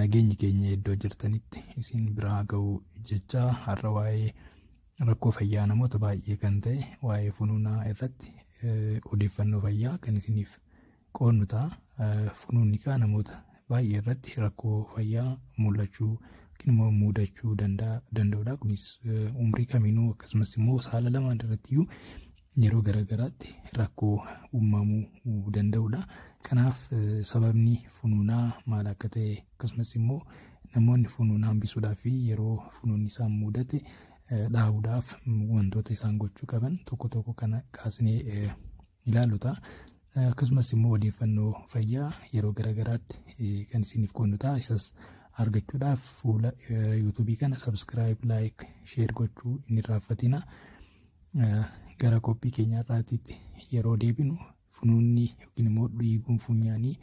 nageenyi keenya iddoo jirtanitti isin biraa ga'u jechaa har'a waa'ee rakkoo fayyaa namoota baay'ee kan ta'e waa'ee funuunaa irratti odeeffannoo fayyaa kan isiniif qoodnu ta'a. Funuunni kaa namoota baay'ee irratti rakkoo fayyaa mul'achuu yookiin immoo mudachuu danda'udha. Kunis umrii kamiinuu akkasumas immoo saala lamaan irratti iyyuu yeroo garaagaraatti rakkoo uumamuu danda'udha. Kanaaf sababni funuunaa maal akka ta'e akkasumas immoo namoonni funuuna hambisuudhaa fi yeroo funuunni isaan mudate dhaa'uudhaaf wantoota isaan gochuu qaban tokko tokko kana kaasnee ilaallu ta'a. Akkasumas immoo odeeffannoo fayyaa yeroo garaagaraatti kan isiniif qoodnu ta'a. Isas argachuudhaaf fuula yuutuubii kana sabskiraayib, laayik, sheer gochuu hin irraanfatina. Gara qophii keenya har'aatiitti yeroo deebinu funuunni yookiin immoo dhiiguun funyaanii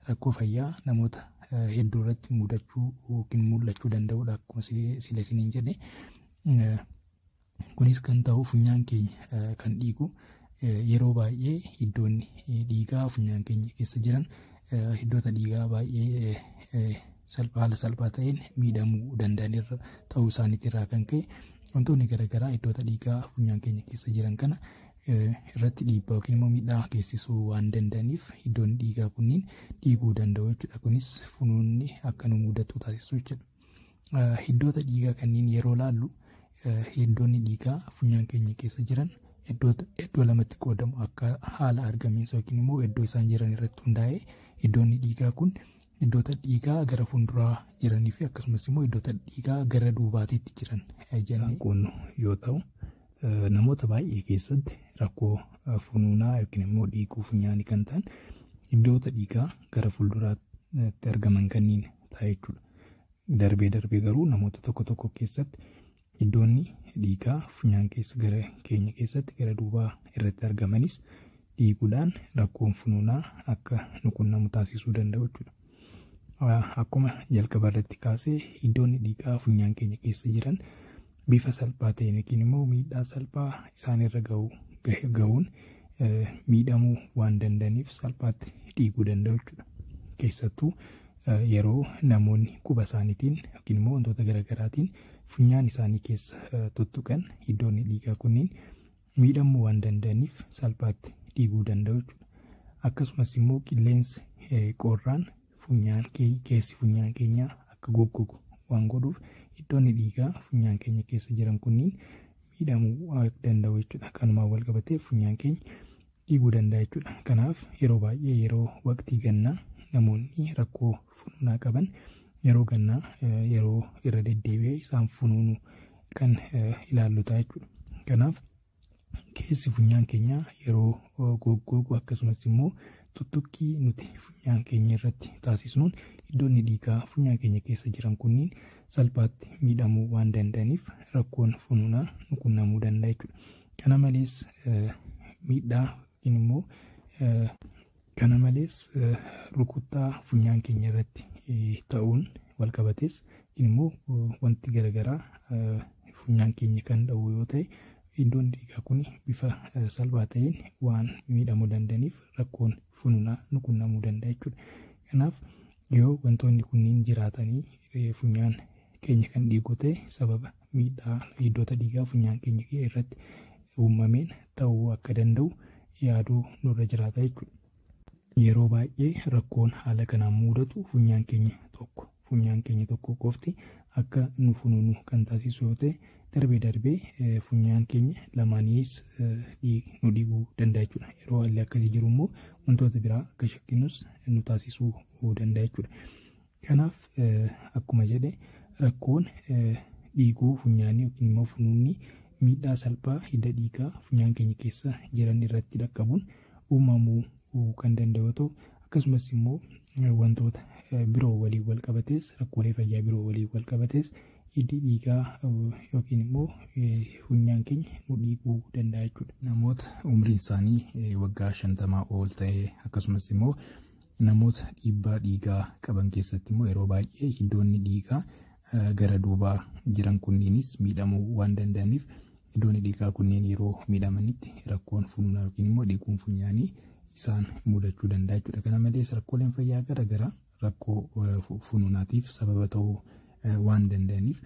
rakkoo fayyaa namoota hedduu irratti mudachuu yookiin mul'achuu danda'udha akkuma sila isiniin jedhe. Kunis kan ta'u funyaan keenya kan dhiigu yeroo baay'ee iddoonni dhiigaa funyaan keenya keessa jiran iddoota dhiigaa baay'ee haala salphaa ta'een miidhamuu danda'anirra ta'uu isaaniitirraa kan ka'e Wantoonni garaagaraa iddoota dhiigaa funyaan keenya keessa jiran kana irratti dhiibbaa yookiin immoo miidhaa geessisuu waan danda'aniif iddoonni dhiigaa kunniin dhiiguu danda'u jechuudha. Kunis funuunni akka nu mudatu taasisuu jechuudha. Iddoota dhiigaa kanneen yeroo laallu iddoonni dhiigaa funyaan keenya keessa jiran iddoo lamatti qoodamu akka haala argamiinsa yookiin immoo iddoo isaan jiran irratti hundaa'ee iddoonni dhiigaa kun Iddoota dhiigaa gara fuulduraa jiranii fi akkasumas immoo iddoota dhiigaa gara duubaatiitti jiran jennee qoonnu yoo ta'u namoota baay'ee keessatti rakkoo funuunaa yookiin immoo dhiiguu funyaanii kan ta'an iddoota dhiigaa gara fuulduraatti argaman kanniin ta'a jechuudha. Darbee darbee garuu namoota tokko tokko keessatti Iddoonni dhiigaa funyaan keessa gara keenya keessatti gara duubaa irratti argamanis dhiiguudhaan rakkoon funuunaa akka nu qunnamu taasisuu danda'u jechuudha. Akkuma jalqaba irratti kaasee iddoonni dhiigaa funyaan keenya keessa jiran bifa salphaa ta'een yookiin immoo miidhaa salphaa isaanirra gahuun miidhamuu waan danda'aniif salphaatti dhiiguu danda'u jechuudha. Keessattuu yeroo namoonni quba isaaniitiin yookiin immoo wantoota garaagaraatiin funyaan isaanii keessa tuttuqan iddoonni dhiigaa kunniin miidhamuu waan danda'aniif salphaatti dhiiguu danda'u jechuudha. Akkasumas immoo qilleensi qorraan funyaan keessi funyaan keenyaa akka goggogu waan godhuuf iddoonni dhiigaa funyaan keenya keessa jiran kunniin miidhamuu danda'u jechuudha. Kanumaan wal qabatee funyaan keenya dhiiguu danda'a jechuudha. Kanaaf yeroo baay'ee yeroo waqtii gannaa namoonni rakkoo funuunaa qaban yeroo gannaa yeroo irra deddeebi'ee isaan funuunu kan ilaallu ta'a jechuudha. Kanaaf keessi funyaan keenyaa yeroo goggoogu akkasumas immoo tuttuqqii nuti funyaan keenya irratti taasisnuun iddoonni dhiigaa funyaan keenya keessa jiran kunniin salphaatti miidhamuu waan danda'aniif rakkoon funuunaa nu qunnamuu danda'a jechuudha. Kana malees miidhaa yookiin immoo kana malees rukuttaa funyaan keenya irratti ta'uun wal qabatees yookiin immoo wanti garaagaraa funyaan keenya kan dha'u yoo ta'e iddoon dhiigaa kun bifa salphaa ta'een waan miidhamuu danda'aniif rakkoon funuunaa nu qunnamuu danda'a jechuudha. Kanaaf Yoo wantoonni kunniin jiraatanii eh, funyaan keenya kan dhiigu ta'e sababa miidhaa hiddoota dhiigaa funyaan keenya kee irratti uumameen ta'uu akka danda'u yaaduu nurra jiraata jechuudha. Yeroo baay'ee rakkoon haala kanaan muudatu funyaan keenya tokko funyaan keenya tokko qofti akka nu funuunu kan taasisu yoo ta'e Darbee darbee funyaan keenya lamaaniis nu dhiiguu danda'a jechuudha. Yeroo haalli akkasii jiru immoo wantoota biraa akka shakkinus nu taasisuu danda'a jechuudha. Kanaaf akkuma jedhe rakkoon dhiiguu funyaanii yookiin immoo funuunni miidhaa salphaa hidda dhiigaa funyaan keenya keessa jiran irratti dhaqqabuun uumamuu kan danda'u yoo ta'u akkasumas immoo wantoota biroo waliin wal qabatees rakkoolee fayyaa biroo waliin wal qabatees hiddi dhiigaa yookiin immoo funyaan keenya nu dhiiguu danda'a jechuudha. Namoota umriin isaanii waggaa shantamaa ol ta'e akkasumas immoo namoota dhiibbaa dhiigaa qaban keessatti immoo yeroo baay'ee hiddoonni dhiigaa gara duubaa jiran kunniinis miidhamuu waan danda'aniif hiddoonni dhiigaa kunneen yeroo miidhamanitti rakkoon funyaan yookiin immoo dhiiguun funyaanii isaan mudachuu danda'a jechuudha. Kana malees rakkooleen fayyaa garaagaraa rakkoo funuunaatiif sababa ta'uu waan danda'aniif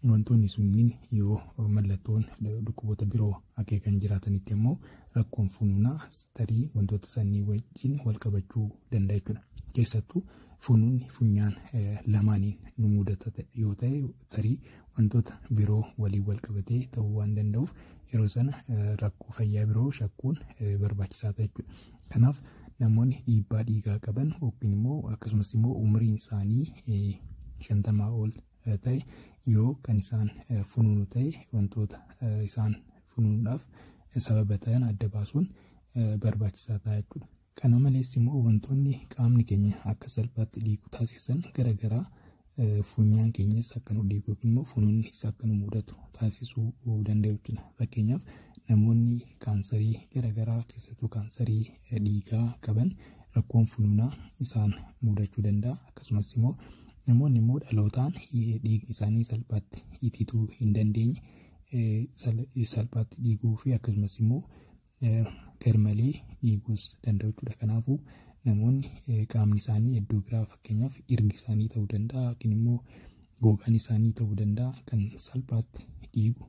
wantoonni sunniin yoo mallattoon dhukkuboota biroo akeekan jiraatanitti immoo rakkoon funuunaa tarii wantoota sanii wajjin wal qabachuu danda'a jechuudha. Keessattuu funuunni funyaan lamaaniin nu mudata yoo ta'e tarii wantoota biroo waliin wal qabatee ta'uu waan danda'uuf yeroo sana rakkoo fayyaa biroo shakkuun barbaachisaa ta'a jechuudha. Kanaaf namoonni dhiibbaa dhiigaa qaban yookiin immoo akkasumas immoo umriin isaanii shantamaa ol ta'e yoo kan isaan funuunu ta'e wantoota isaan funuunuudhaaf sababa ta'an adda baasuun barbaachisaa ta'a jechuudha. Kana malees immoo wantoonni qaamni keenya akka salphaatti dhiigu taasisan garaagaraa funyaan keenyas akka nu dhiigu yookiin immoo funuunnis akka nu mudatu taasisuu danda'u jechuudha. Fakkeenyaaf namoonni kaansarii garaagaraa keessattuu kaansarii dhiigaa qaban rakkoon funuunaa isaan mudachuu danda'a. Akkasumas immoo namoonni immoo dhalootaan dhiigni isaanii salphaatti itituu hin dandeenye salphaatti dhiiguu fi akkasumas immoo garmalee dhiiguus danda'u jechuudha. Kanaafuu namoonni qaamni isaanii iddoo biraa fakkeenyaaf irgi isaanii ta'uu danda'a yookiin immoo gogaan isaanii ta'uu danda'a kan salphaatti dhiigu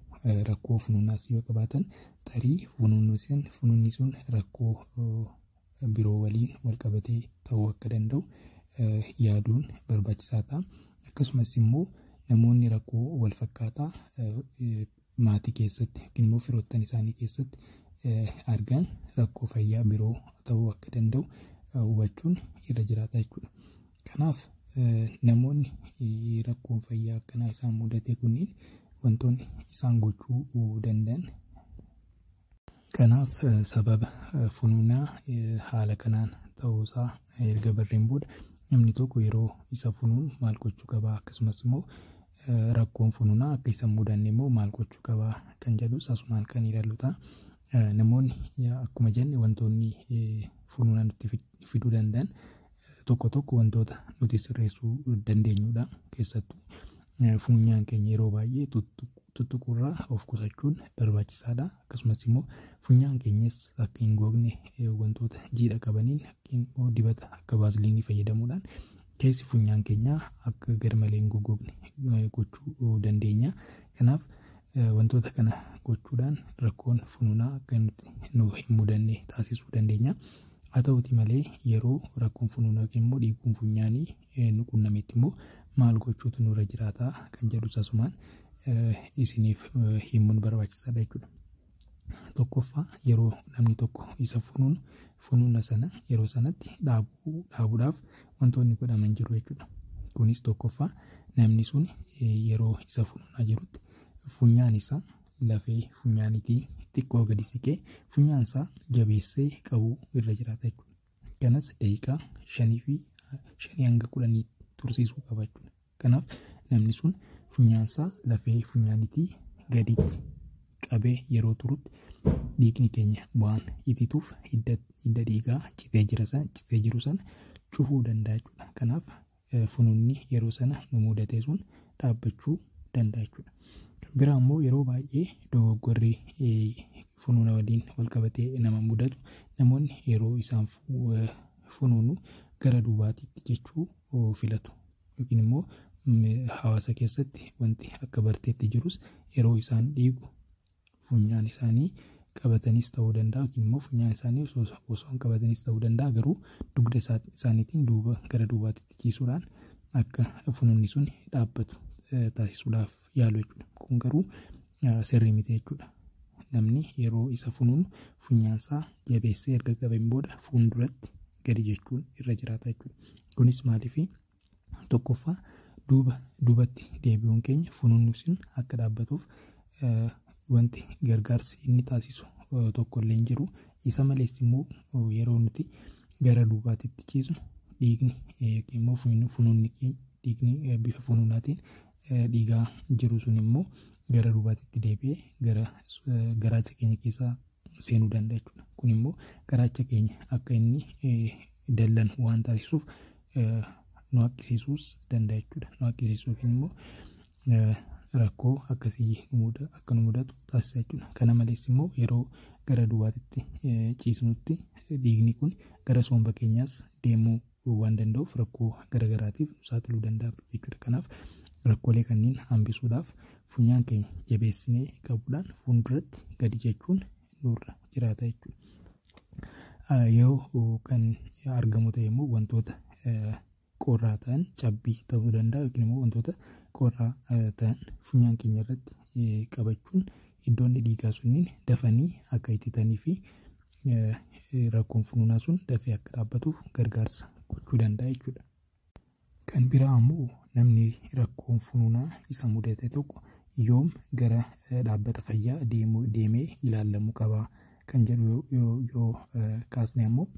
rakkoo funuunaas yoo qabaatan tarii funuunni sun funuunni sun rakkoo biroo waliin walqabatee ta'uu akka danda'u yaaduun barbaachisaa ta'a. Akkasumas immoo namoonni rakkoo walfakkaataa maatii keessatti yookiin immoo firoottan isaanii keessatti argan rakkoo fayyaa biroo ta'uu akka danda'u hubachuun irra jiraata jechuudha. Kanaaf namoonni rakkoon fayyaa akkanaa isaan mudate kunniin wantoonni isaan gochuu danda'an Kanaaf sababa funuunaa haala kanaan ta'uu isaa erga barreen booda namni tokko yeroo isa funuun maal gochuu qabaa akkasumas immoo rakkoon funuunaa akka isa mudanne immoo maal gochuu qabaa kan jedhus asumaan kan ilaallu ta'a. Namoonni akkuma jenne wantoonni funuunaa nutti fiduu danda'an tokko tokko wantoota nuti sirreessuu dandeenyudha. Keessattuu funyaan keenya yeroo baay'ee tuttuqurraa of qusachuun barbaachisaadha. Akkasumas immoo funyaan keenyas akka hin googne wantoota jiidha qabaniin immoo dibata akka vaasiliinii fayyadamuudhaan keessi funyaan keenyaa akka garmalee hin gogogne gochuu dandeenya. Kanaaf wantoota kana gochuudhaan rakkoon funuunaa akka nuti nu hin mudanne taasisuu dandeenya. Haa ta'uutii malee yeroo rakkoon funuunaa yookiin immoo dhiiguun funyaanii nu qunnametti immoo maal gochuutu nurra jiraata kan jedhus asumaan isiniif himuun barbaachisaadha jechuudha. Tokkoffaa yeroo namni tokko isa funuunu funuuna sana yeroo sanatti dhaabuudhaaf wantoonni godhaman jiru jechuudha. Kunis tokkoffaa namni sun yeroo isa funuunaa jirutti funyaan isaa lafee funyaanitii xiqqoo gadi siqee funyaan isaa jabeessee qabuu irra jiraata jechuudha. Kanas daqiiqaa shanii fi shanii hanga kudhanii tursiisuu qaba jechuudha. Kanaaf namni sun funyaan isaa lafee funyaanitii gaditti qabee yeroo turutti dhiigni keenya waan itituuf hidda dhiigaa citee jira san citee jiru sana cufuu danda'a jechuudha. Kanaaf fununni yeroo sana nu mudatee sun dhaabbachuu danda'a jechuudha. Kan biraa immoo yeroo baay'ee dogoggorri funuuna waliin wal qabatee nama mudatu namoonni yeroo isaan funuunu gara duubaatiitti jechuu filatu yookiin immoo hawaasa keessatti wanti akka barteetti jirus yeroo isaan dhiigu funyaan isaanii qabatanis ta'uu danda'a yookiin immoo funyaan isaanii osoo osoo hin qabatanis ta'uu danda'a garuu dugda isaa- isaaniitiin duuba gara duubaatti ciisuudhaan akka funuunni sun dhaabbatu eh, taasisuudhaaf yaalu jechuudha. Kun garuu eh, sirrii miti jechuudha. Namni yeroo isa funuunu funyaan isaa jabeessee erga qabeen booda fuulduratti gadi jechuun irra jiraata jechuudha. Kunis maaliif tokkoffaa duuba duubatti deebi'uun keenya funuunni sun akka dhaabbatuuf wanti gargaarsi inni taasisu tokko illee hin jiru. Isa malees immoo yeroo nuti gara duubaatitti ciisnu dhiigni yookiin immoo funuunni keenya dhiigni bifa funuunaatiin dhiigaa jiru sun immoo gara duubaatitti deebi'ee gara garaacha keenya keessaa seenuu danda'a jechuudha. Kun immoo garaacha keenya akka inni dallanu waan taasisuuf nu haqqisiisuus danda'a jechuudha. Nu haqqisiisuu yookiin immoo rakkoo akkasii akka nu mudatu taasisa jechuudha. Kana malees immoo yeroo gara duwwaatitti ciisnutti dhiigni kun gara soomba keenyaas deemuu hambisuu waan danda'uuf rakkoo garagaraatiif nu saaxiluu danda'a jechuudha. Kanaaf rakkoolee kanneen hambisuudhaaf funyaan keenya jabeessinee qabuudhaan fuulduratti gadi jechuun nurra jiraata jechuudha. Yoo kan argamu ta'e immoo wantoota qorraa ta'an cabbii ta'uu danda'a yookiin immoo wantoota qorraa ta'an funyaan keenya irratti qabachuun Iddoonni dhiigaa sunniin dafanii akka ittitanii fi rakkoon funuunaa sun dafee akka dhaabbatuuf gargaarsa gochuu danda'a jechuudha. Kan biraa ammoo namni rakkoon funuunaa isa mudate tokko yoom gara dhaabbata fayyaa deemee ilaalamuu qaba kan jedhu yoo kaasne ammoo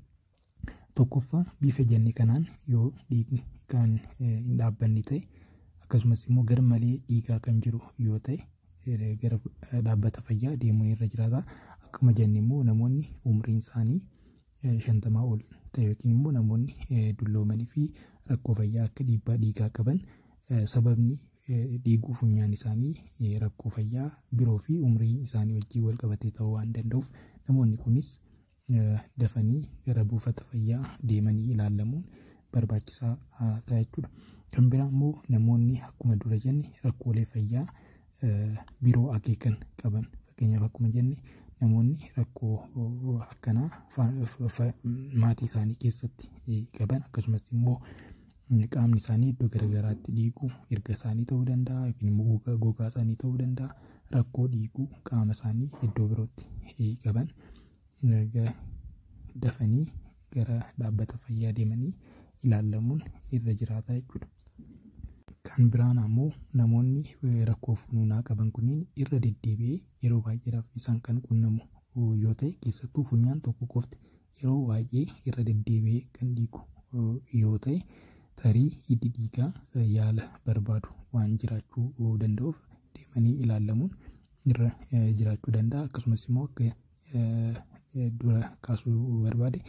Tokkoffaa bifa jenne kanaan yoo dhiigni kan hin dhaabbanne ta'e akkasumas immoo gar malee dhiigaa kan jiru yoo ta'e gara dhaabbata fayyaa deemuun irra jiraata. Akkuma jenne immoo namoonni umriin isaanii shantamaa ol ta'e yookiin immoo namoonni dulloomanii fi rakkoo fayyaa akka dhiibbaa dhiigaa qaban sababni dhiiguu funyaan isaanii rakkoo fayyaa biroo fi umrii isaanii wajjin wal qabatee ta'uu waan danda'uuf namoonni kunis dafanii gara buufata fayyaa deemanii ilaalamuun barbaachisaa ta'a jechuudha. Kan biraa immoo namoonni akkuma dura jenne rakkoolee fayyaa biroo akeekan qaban fakkeenyaaf akkuma jenne namoonni rakkoo akkanaa maatii isaanii keessatti qaban akkasumas immoo qaamni isaanii iddoo garaagaraatti dhiigu erga isaanii ta'uu danda'a yookiin immoo gogaa isaanii ta'uu danda'a rakkoo dhiiguu qaama isaanii iddoo birootti qaban dafanii gara dhaabbata fayyaa deemanii ilaalamuun irra jiraata jechuudha. Kan biraan ammoo namoonni rakkoo funuunaa qaban kunniin irra deddeebi'ee yeroo baay'eedhaaf isaan kan qunnamu yoo ta'e keessattuu funyaan tokko qofti Yeroo baay'ee irra deddeebi'ee kan dhiigu yoo ta'e tarii hiddi dhiigaa yaala barbaadu waan jiraachuu danda'uuf deemanii ilaalamuun irra jiraachuu danda'a. Akkasumas immoo akka dura kaasuu barbaade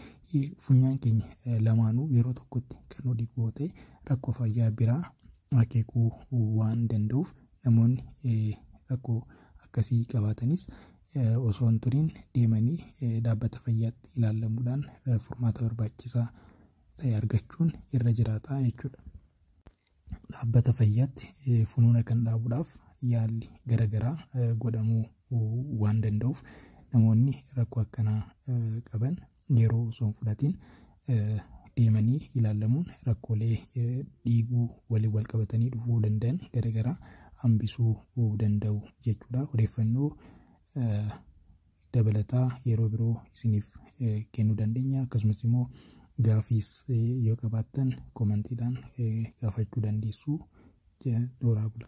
funyaan keenya lamaanuu yeroo tokkotti kan dhiigu yoo ta'e rakkoo fayyaa biraa akeekuu waan danda'uuf Namoonni rakkoo akkasii qabaatanis osoo hin turiin deemanii dhaabbata fayyaatti ilaallamuudhaan furmaata barbaachisaa ta'e argachuun irra jiraata jechuudha. Dhaabbata fayyaatti funuuna kan dhaabuudhaaf yaalli garaagaraa godhamuu waan danda'uuf namoonni rakkoo akkanaa qaban yeroo osoo hin fudhatiin deemanii ilaalamuun rakkoolee dhiiguu waliin wal qabatanii dhufuu danda'an garaagaraa hambisuu danda'u jechuudha. Odeeffannoo dabalataa yeroo biroo isiniif kennuu dandeenya akkasumas immoo gaafiis yoo qabaattan komantiidhaan gaafachuu dandeessu. Dooraa bula.